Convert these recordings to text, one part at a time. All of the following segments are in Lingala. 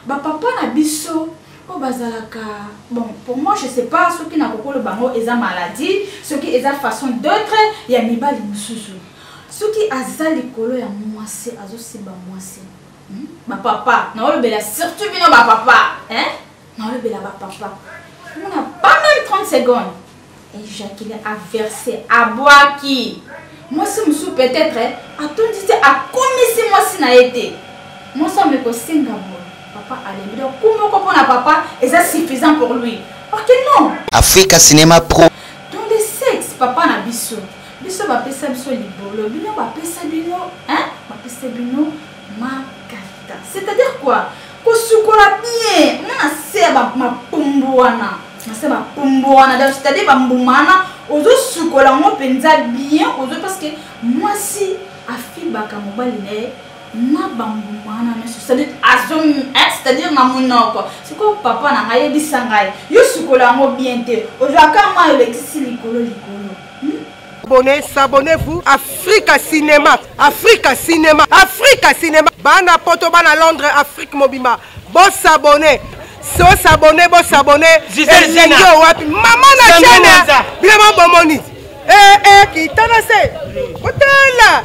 ba papa na biso oyo bazalaka bon pour moi je sais pas soki na kokolo bango eza maladie soki eza façon d'autre ya mibali mosusu soki aza likolo ya mwasi azosimba mwasi hmm? bapapa naolobela surtout bino bapapa naolobela bapapa omona pas même 30 secondes ejacule averse abwaki mwasi mosusu peut-être atondi te akomisi mwasi na ye te mwasi ame kosenga boye papa alembi donc ku moko mpo na papa eza suffisant pour lui ok non africa cinema pro dans le sexe papa na biso biso bapesa biso libolo bino bapesa bino hein bapesa bino makata c'est à dire quoi kosukola bien mwana se ya mapumbu wana nase bapumbu wana donc c'est à dire bambuma wana ozosukola yango mpenza bien ozo parce que mwasi afibaka mobali na ye na bambuma wana nyonso c'est-à-dire eh, na monoko sikoyo papa na ngai yebisa ngai yo sukola yango bien te ozwaka mai olekisi likolo likolo Abonnez, s'abonnez-vous. Africa Cinéma, Africa Cinéma, Africa Cinéma. Bana poto, bana Londres, Afrique mobimba. Bon s'abonner. So s'abonner, bon s'abonner. Gisèle Zena. wapi? Maman na chaîne. Vraiment bomoni. Eh eh kitana se. Otala.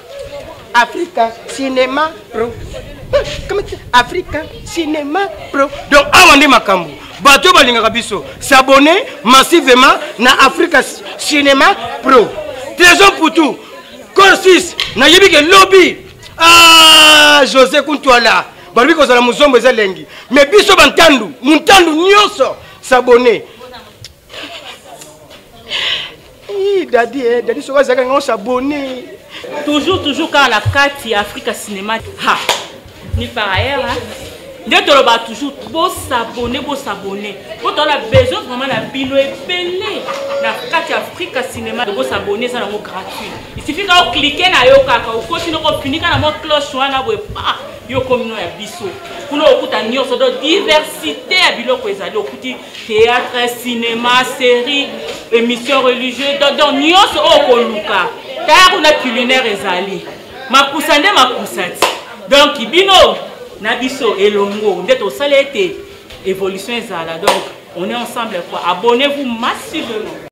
Africa Cinema Pro. Africa Cinema Pro. Donc awa nde makambo bato oyo balingaka biso s'abonne massivement na Africa Cinema Pro. Trésor Poutou, Corsis, nayebi ke lobi ah José Kuntwala balobi kozala mozombo eza lengi mais biso bantandu montandu nyonso s'abonne Ii, dadi eh, dadi soki azalaka ngai osabone toujours toujours kaka na kati ya afrika cinéma ha ni par ailleurs hein? nde toloba toujours bosabone bosabone mpo toala besoin vraiment na bino ebele na kati ya afrika cinéma bosabone eza nango gratuit isifi kaka oklike na yo kaka okoti noko ofinika na mwa cloche wana boye pa yo okomi no ya biso kuna okuta nyonso donc diversité ya biloko ezali okuti théâtre cinéma série émission religieuse donc nyonso oyo koluka tala kuna culinaire ezali makusa nde makusa ti donk bino na biso elongo nde tosala ete évolution ezala donc on est ensemble quoi abonnez vous massivement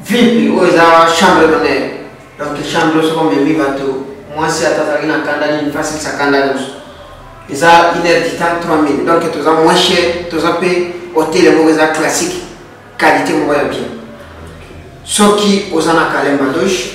vipi oyo eza chambre d'honneur donc chambre soko omemi bato mwasi ata azalaki na kanda nini mpe asilisa kanda nyonso eza une heure du temps 3000 donc toza moins cher toza mpe hotel moko eza classique qualité moko ya bien soki oza na kalemba douche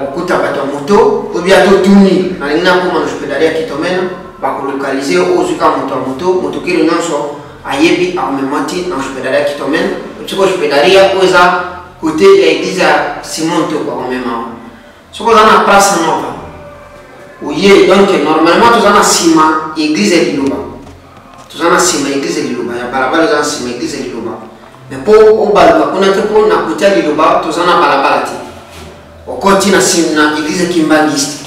okuta bato ya moto obi ata otuni nalingi nakoma na jupedali ya kitomena bakolokalize ozwi kaka moto ya moto motokeli nyonso ayebi amema ti na jupedali ya kitomena soko jupedali ya oyo eza kote ya eglize ya simon toko akomema yango soko oza na place nova oye donc normalement toza na nsima eglize ya liloba toza na nsima eglize liloba ya balabala eza na nsima eglize liloba me mpo obaluka kuna te mpo na kotya liloba toza na balabala te okoti na nsima na eglize kimbangiste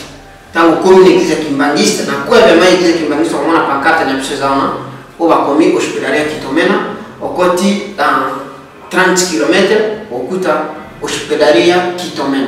ntango okomi na eglize kimbangiste na kwebema eglize kimbangiste okomona pankarte na biso eza wana oyo bakomi hospitali ya kitomena okoti na 30 km okuta hospitali ya kitomena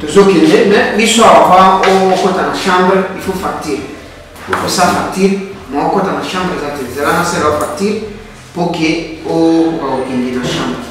tozokende me biso avant okota na chambre il faut facture okosa facture ma okota na chambre eza te zela na sela facture mpo ke okoka kokende na chambre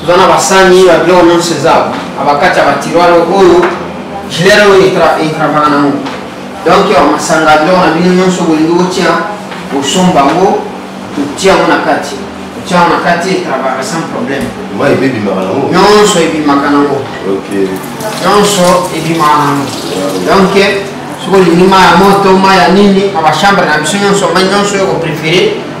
toza na basani ba biloko nyonso eza na bakati ya batiroire oyo gilere oyo etravaka nango donk ya masanga biloko na bino nyonso bolingi botia osomba yango otia yango na kati otia yango na kati etravaka sans problème nyonso ebimaka nango nyonso ebimaka nango donk soki olingi mai ya moto mai ya nini na bachambre na biso nyonso mai nyonso oyo koprefere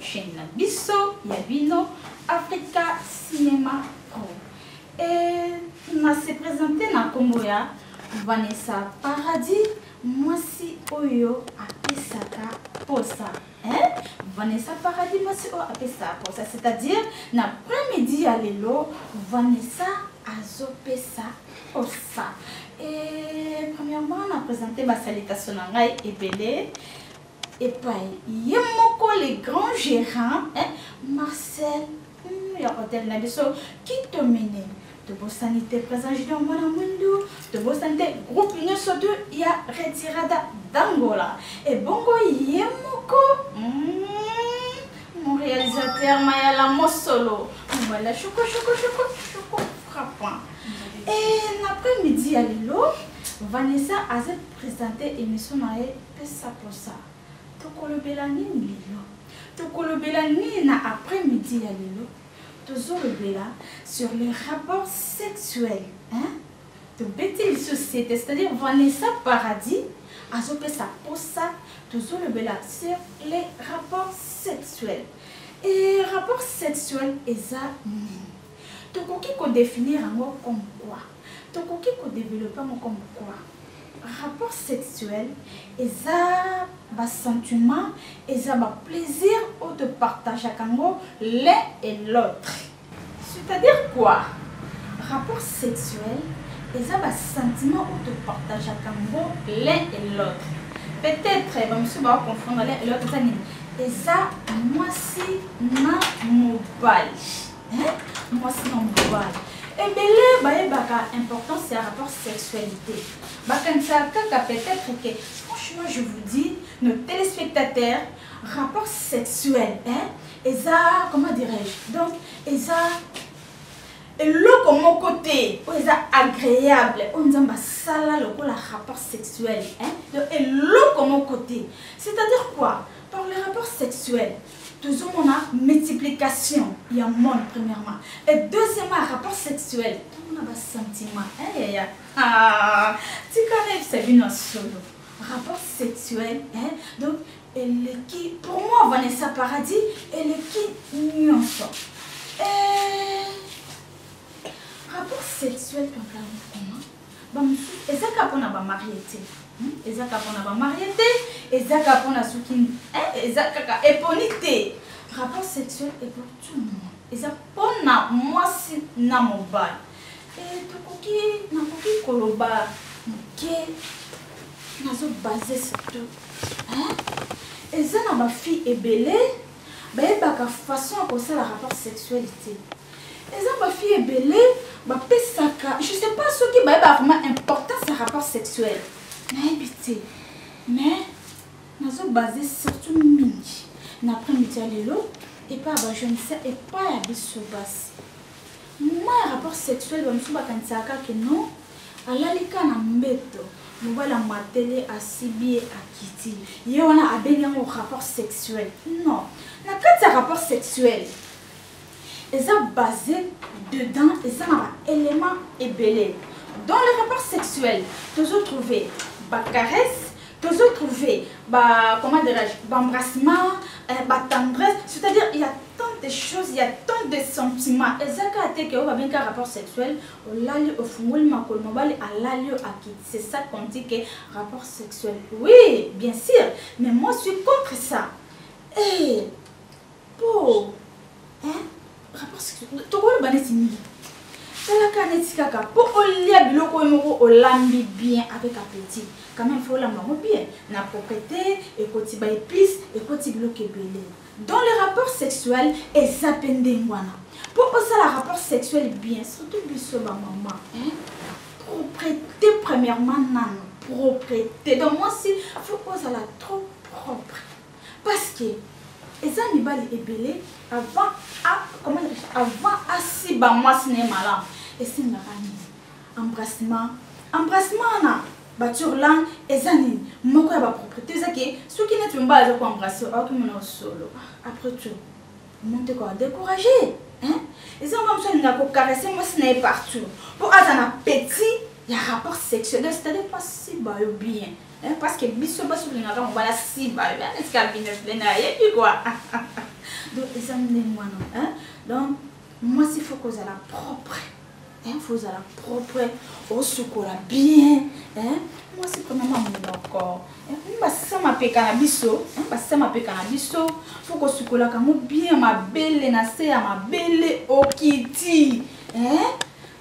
chaîne na biso ya bino africa cinema pro e na se présente na nkombo ya vanessa paradis mwasi oyo apesaka posa eh? vanessa paradis mwasi oyo apesaka posa c'est-à-dire na premidi ya lelo vanessa azopesa posa e premièrement na présente basalitaso na ngai ebele epai ye moko le grand gérant eh, marcel mm, ya hotel na biso kitomene tobosani te président junior mwana mwindu tobosani te groupe nyonso to ya retirada dangola ebongo ye moko mm, mon réalisateur mayala mosolo voilà choko choko choko choko frappant et l'après midi ya lelo vanessa aza présente émission na ye Pesa posa. Tokolobela nini lelo? Tokolobela nini na après midi ya lelo? Tozolobela sur les rapports sexuels. Hein? Tobeti lisusu sete, c'est-à-dire Vanessa Paradis azopesa posa tozolobela sur les rapports sexuels. Et rapport sexuel eza nini? Tokoki kodefinir yango comme quoi? Tokoki kodevelope yango comme quoi? rapport sexuel eza ba sentiment eza ba plaisir oyo topartageaka yango l'un et l'autre c'est-à-dire quoi rapport sexuel eza ba sentiment oyo topartageaka yango l'un et l'autre peut-être bamosusu bakoconfondre l'un et l'autre eza nini eza mwasi na mobali mwasi na mobali ebele bayebaka importance ya rapport sexualité bakanisaka kaka peut-être ke franchement je vous dis nos téléspectateurs rapport sexuel hein? eza comment dirais-je donc eza eloko moko te oyo eza agréable oyo nzambe asala lokola rapport sexuel hein? donc eloko moko te c'est-à-dire quoi par le rapport sexuel tozomona multiplication ya monde premièrement et deuxièmement ya rapport sexuel tomona basentiment eyaya ah, tika nayebisa bino ya solo rapport sexuel hein? donc eleki pour moi vanessa paradis eleki nyonso eh, rapport sexuel papa mokoma bamosusu eza kaka mpo na bamarie te hmm? eza kaka mpo na bamarie te eza kaka mpo na soki eh, eza kaka eponi te rapport sexuel epo tout le monde eza mpo na mwasi na mobali eh, tokoki nakoki koloba moke nazobase surtout eza na bafille ebele bayebaka façon ya kosala rapport sexuel te eza ba fille ebele bapesaka je sais pas soki bayeba vraiment importance ya rapport sexuel nayebi te mais nazobase surtout mingi na après midi ya lelo epai ya bajeunisa epai ya biso basi mwa ya rapport sexuel bamosusu bakanisaka kaka non alali ka na mbeto mobali amatele asibi ye akiti ye wana abengi yango rapport sexuel non na kati ya rapport sexuel eza base dedans eza na baélément ebele dans le rapport sexuel tozo trouve bacaresse tozo trouve ba comment dirais-je baembrassement eh, batendresse c'est-à-dire il y a tant de choses il y a tant de sentiments eza kaka te ke oyo babengi kaka rapport sexuel olali ofungoli makolo mobali alali yo akiti c'est ça qu'on dit ke rapport sexuel oui bien sûr mais moi suis contre ça hey. Eh, po tokoloba neti nini talaka neti kaka mpo olia biloko oyo moko olambi bien avec appetit quand même fo olamba yango bien na proprete ekoti ba épice ekoti biloko ebele dans le rapport sexuel eza mpe ndenge wana mpo osala rapport sexuel bien surtout biso bamama proprete premièrement nano proprete donc mwasi fo ozala trop propre Parce que eza mibali ebele avant a comment dire avant asiba mwasi na ye malamu esengaka nini embrassement embrassement wana bature langue eza nini moko ya bapropriété eza ke soki neti mobali aza koembrasse aokimona solo après tout omonte koa découragé eza mwa mosu alinga kokarese mwasi na ye partout mpo aza na petit ya rapport sexuel c'est-à-dire pasiba yo bien Eh, parce que biso basi tolingaka mobala simba etika bino ndenge ayebi kua donc eza ndenge wana donc mwasi fo kozala propre fo ozala propre osukola bien mwasi komama monoko basisa mapeka na biso basisa mapeka na biso fo kosukolaka yango bien mabele na se ya mabele okiti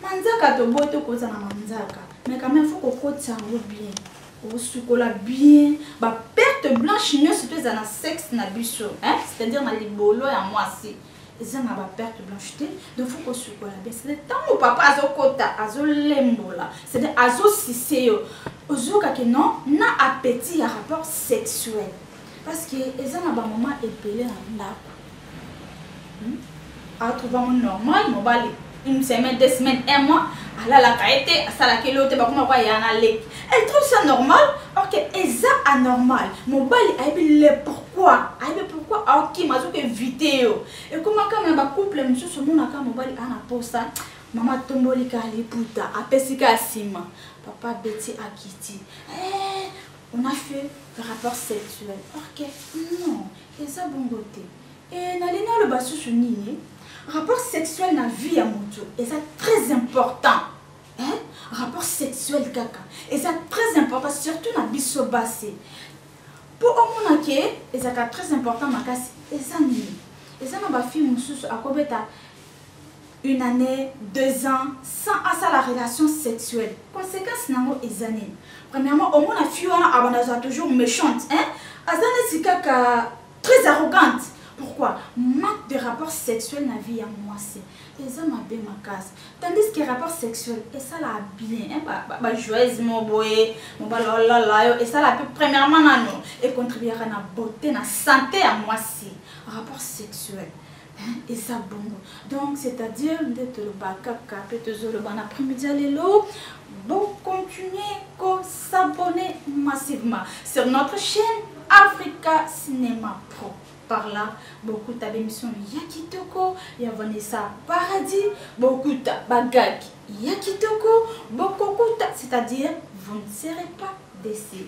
manzaka toboyi tokozala manzaka mais quand même faut kokotisa yango bien kosukola bien baperte blanche nyonso mpe eza na sexe na biso c'est-à-dire na libolo ya mwasi eza na baperte blanche te donc faut kosukola bien c'est-à-dire ntango papa azokota azolembola c'est-à-dire azosise yo ozokake non na appétit ya rapport sexuel parce que eza na bamoma ebele na ndako atrouva mo normal mobali une semaine deux semaines un mois alalaka ye te asalaka ye loo te bakoma kwa ya na leki elle trouve ça normal ok eza anormal mobali ayebi le pourquoi ayebi pourquoi aokima azoki evite yo ekomaka na bacouple mosusu omonaka mobali aa na posa mama atomboli ka liputa apesi ka nsima papa beti akiti eh, on a fait rapport sexuel ok non Eza bongo te. Et na lingi aloba susu nini? Rapport sexuel na vie ya moto eza très important. Hein? Rapport sexuel kaka eza très important surtout na biso basi. Po omona ke ezaka très important makasi eza nini? Eza na ba filles mosusu akobeta une année deux ans sans asala relation sexuelle conséquence nango eza nini premièrement omona fille wana abanda azala toujours méchante hein aza neti kaka très arrogante pourquoi manque de rapport sexuel na vie ya mwasi eza mabe makasi tandis que rapport sexuel esalaka bien bajoise mo boye mobala olala yo esala mpe premièrement nano econtribuaka na beauté na santé ya mwasi rapport sexuel eza bongo donc c'est à dire nde toloba kaka mpe tozoloba na après-midi ya lelo bocontinue kosabonne massivement sur notre chaîne africa cinéma pro par là bokuta bemission ya kitoko ya vanessa paradis bokuta bagaki ya kitoko bokokuta c'est-à-dire vous ne serez pas décis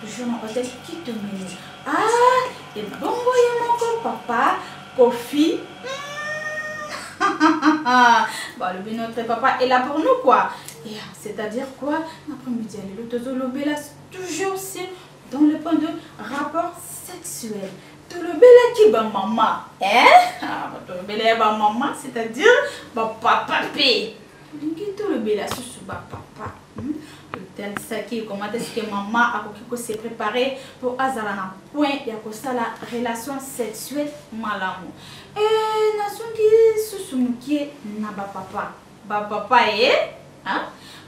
toujours na hotel kitomini ah ebongo ye moko papa kofi balobi notre papa est là pour nous quoi yeah, c'est à dire quoi après midi ya lelo tozolobela toujours si dans le point de rapport sexuel tolobelaki bamama ah, tolobela ya bamama c'est à dire bapapa mpe olingi tolobela susu bapapa Saki comment est-ce que maman akoki ko se préparer pour azala na point ya kosala relation sexuelle malamu e nazongi susu mokie na bapapa bapapa ye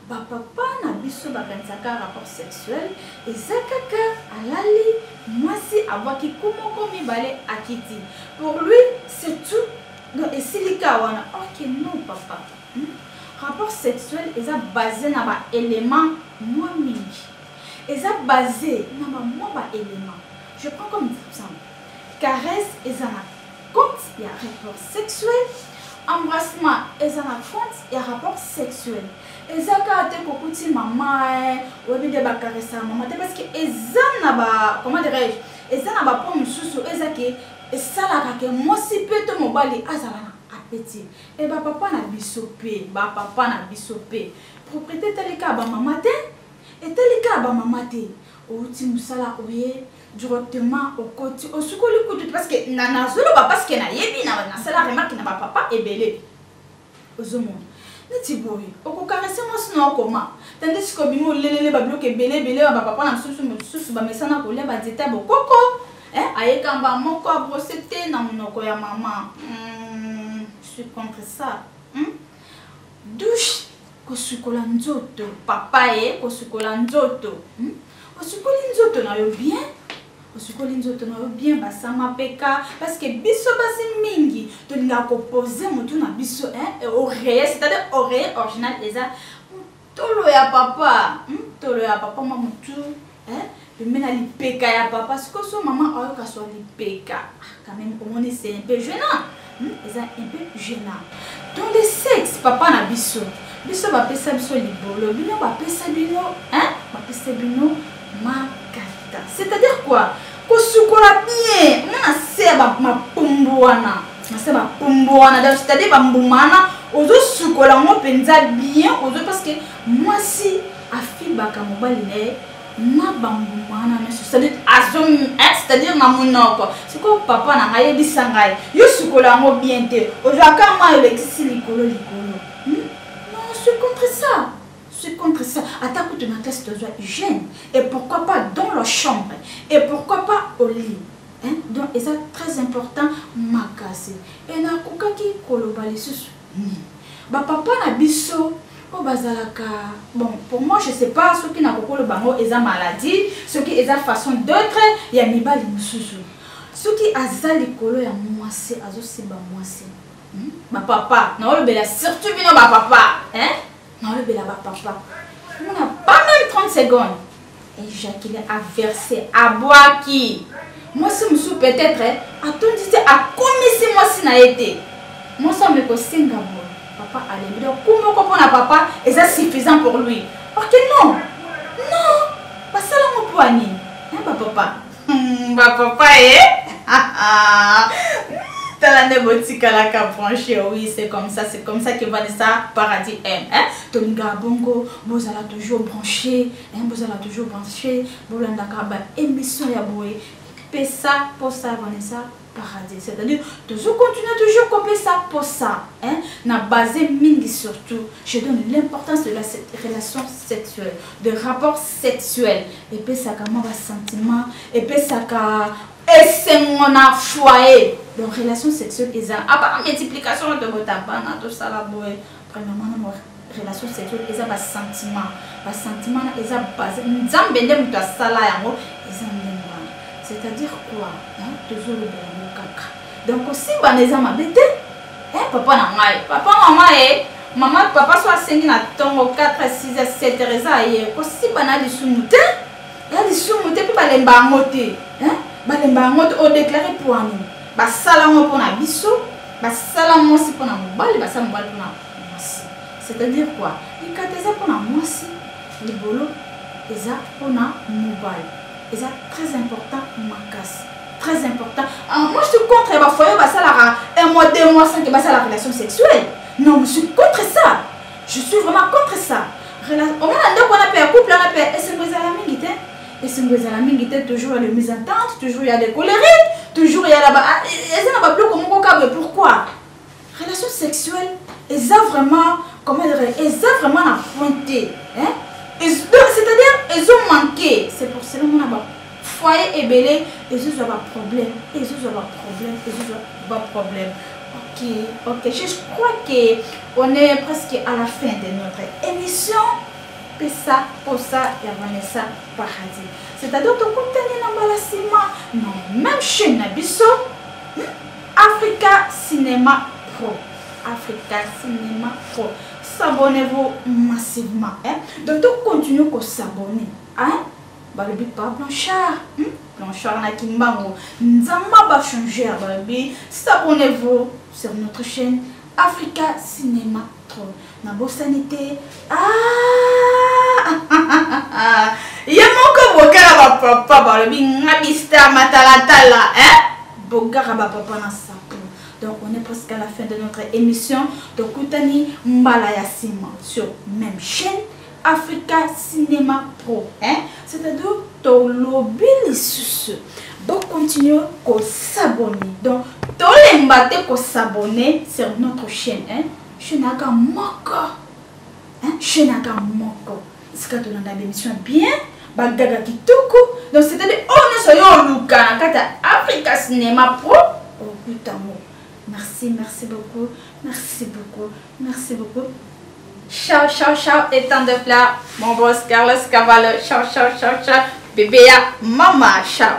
bapapa na biso bakanisaka rapport sexuel eza kaka alali mwasi abwaki ku moko mibale akiti pour lui c'est tout donc esilika wana ok non papa Rapport sexuel eza base na ba elements mwa mingi. Eza base na ba mwa ba elements. Je prends comme exemple, caresse eza na compte ya rapport sexuel, embrassement eza na compte ya rapport sexuel. Eza kaka te kokuti mama eh, oyebi nde ba caressa mama te parce que eza na ba comment dirais-je, eza na ba points mosusu eza ke esalaka ke mwasi pe to mobali azala na appétit. Et ba papa na biso pe, ba papa na biso pe. Propriété etali kaka ba mama te, etali kaka ba mama te. Outi musala oye directement okoti osukoli kutu te parce que na nazoloba parce que nayebi na nasala remarque na ba papa ebele. Ozomona neti boye okokarese mwasi na okoma tandis kobimi olelele babiloko ebele ebele ya bapapa na mosusu mosusu bamesana kolia banzete ya bokoko Eh, aye kamba moko a brosse te na munoko ya mama. Hmm, je suis contre ça. Hmm? Douche kosukola nzoto papa ye eh, kosukola nzoto hmm? osukoli nzoto na yo bien osukoli nzoto na yo bien basama mpeka parceke biso basi mingi tolingaka kopose motu na biso eh, oreye c'est-à-dire oreye original eza tolo ya papa hmm? tolo ya papa ma mutu eh? pembe na lipeka ya papa siko so mama ayoka so lipeka ah, quand même omoni c'est un peu gênant hmm? eza un peu gênant donc le sexe papa na biso biso bapesa biso libolo bino bapesa bino hein? bapesa bino makata c'est à dire quoi kosukola bien mwana se ya mapumbu wana nase bapumbu wana donc c'est à dire bambuma wana ozosukola yango mpenza bien ozo parce que mwasi afibaka mobali na ye na bambuma wana nyonso c'est-à-dire eh, na monoko sikoyo papa na ngai yebisa ngai yo sukola yango bien te ozwaka mwa olekisi likolo likolo hmm? non je suis contre ça suis contre ça ata kutu na classe tozwa hygiène et pourquoi pas dans la chambre et pourquoi pas au lit hein? donc eza très important makasi e nakokaki koloba lisusu nini hmm. bapapa na biso oyo bazalaka bon pour moi je sais pas soki nakokoloba yango eza maladie soki eza façon d'autre ya mibali mosusu soki aza likolo ya mwasi azosimba mwasi hmm? bapapa naolobela surtout bino bapapa hein? nalobela bapapa mona pas même 30 secondes ejakile averse abwaki mwasi mosusu peut-être atondi te akomisi mwasi na ye te mwasi ame kosenga mo papa alembi donc ku moko mpo na papa eza suffisant pour lui parce que non non basala ngo mpo ya nini na bapapa Hmm, ba papa ye tala nde botikalaka branche oui c'est comme ça c'est comme ça que vanessa paradis aime hein? tolingaka bongo bozala toujours branché hein? bozala toujours branché bolandaka baémission ya boye pesa mposa vanessa paradis c'est-à-dire tozo continuer toujours kopesa posa hein, na base mingi surtout je donne l'importance de la relation sexuelle de rapport sexuel epesaka mwa basentiment epesaka esengo na foyer donc relation sexuelle eza apa multiplication tokotabana tosala boye Premièrement, na mwa relation sexuelle eza ba sentiment. Ba sentiment na eza base Nzambe nde moto asala yango eza ndenge wana. C'est-à-dire quoi? Hein? Tozoloba yango kaka. Donc osimbana eza mabe te. Eh papa na ngai, papa mama eh mama papa so asengi na ntongo 4 6 7 heures eza aye kosimbana ya lisumu te ya lisumu te mpe balemba yango te balemba yango te odeklare pwani basala yango mpo na biso basala mwasi mpo na mobali basala mobali mpo na mwasi c'est-à-dire quoi likata eza mpo na mwasi libolo eza mpo na mobali eza très important makasi très important ah, moi je suis contre ya bafoye basalaka un mois deux mois sans ke basala relation sexuelle non je suis contre ça je suis vraiment contre ça omona ndako wana mpe ya couple wana mpe esengo ezala mingi te esengo ezala mingi te toujours ya le mise en tente toujours ya le colerique toujours ya laba ah, e, eza na babiloko moko kabre pourquoi relation sexuelle eza vraiment comment dire eza vraiment na point te hein? c'est-à-dire ezo manquer c'est pour cela mona ba foyer ebele ezozwa baproblème ezozwa baproblème ezozwa baproblème ok ok je crois que on est presque à la fin de notre émission pesa posa ya vanessa paradis c'est-à-dire tokutani na mbala nsima na même chaîne na biso hmm? africa cinéma pro africa cinéma pro s'abonnez-vous massivement hein? donc tocontinue kosabonne hein? balobi pa blanchard hmm? blanchard na kimbango nzamba bachanger balobi s'abonnez-vous sur notre chaîne africa cinéma nabosani te ah! ye moko bokala bapapa balobi nga mister matalatala eh? bogaka bapapa na sapo donc on est presque à la fin de notre émission tokutani mbala ya nsima sur même chaîne africa cinema pro hein? c'est à dire tolobi lisusu bocontinue kosabone donc tolemba te kosabone sur notre chaîne hein? chaîne aka moko hein? chaîne aka moko esika tolanda bémission bien bagaga kitoko donc c'est à dire oyo oh, nyonso yo oluka na kati ya africa cinema pro okutango merci merci beaucoup merci beaucoup Merci beaucoup. Ciao, ciao, ciao, et tant de plats. Mon boss Carlos Cavallo, ciao, ciao, ciao, ciao. Bébé, maman, ciao.